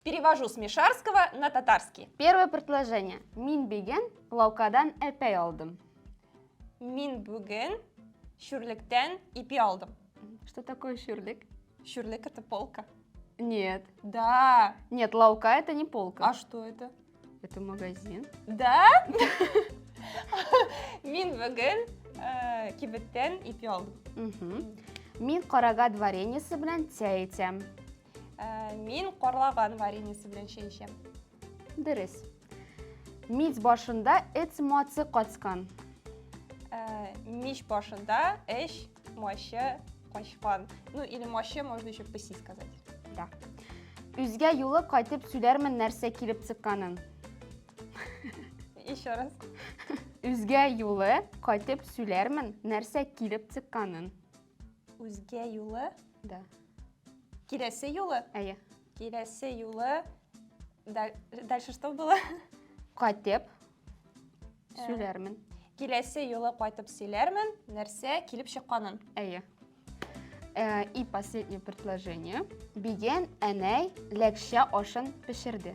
Перевожу с мишарского на татарский. Первое предложение. Мин биген лаукадан әпәй алдым. Мин бүген шүрлектән ипи алдым. Что такое шүрлек? Шүрлек это полка. Нет. Да. Нет, лаука это не полка. А что это? Это магазин. Да? Мин бүген э, кибеттән ипи алдым. Мин карага дворениесе белән тя итәм. Ә, мин карлаган вареньесы белән чәй эчәм. Дөрес. Мич башында эт мацы качкан. Ә, мич башында эш мачы качкан. Ну, или мачы можно еще пыси сказать. Да. Үзгә юлы кайтып сөйләрмен нәрсә килеп чыкканын. Еще раз. Үзгә юлы кайтып сөйләрмен нәрсә килеп чыкканын. Үзгә юлы? Да. Киләсе юлы? Әйе. Киләсе юлы дальше что было? Кайтып э, сөйләрмен. Киләсе юлы кайтып сөйләрмен, нәрсә килеп чыкканын. Әйе. Э, и последнее предложение. Биген әнәй ләкшә ашын пешерде.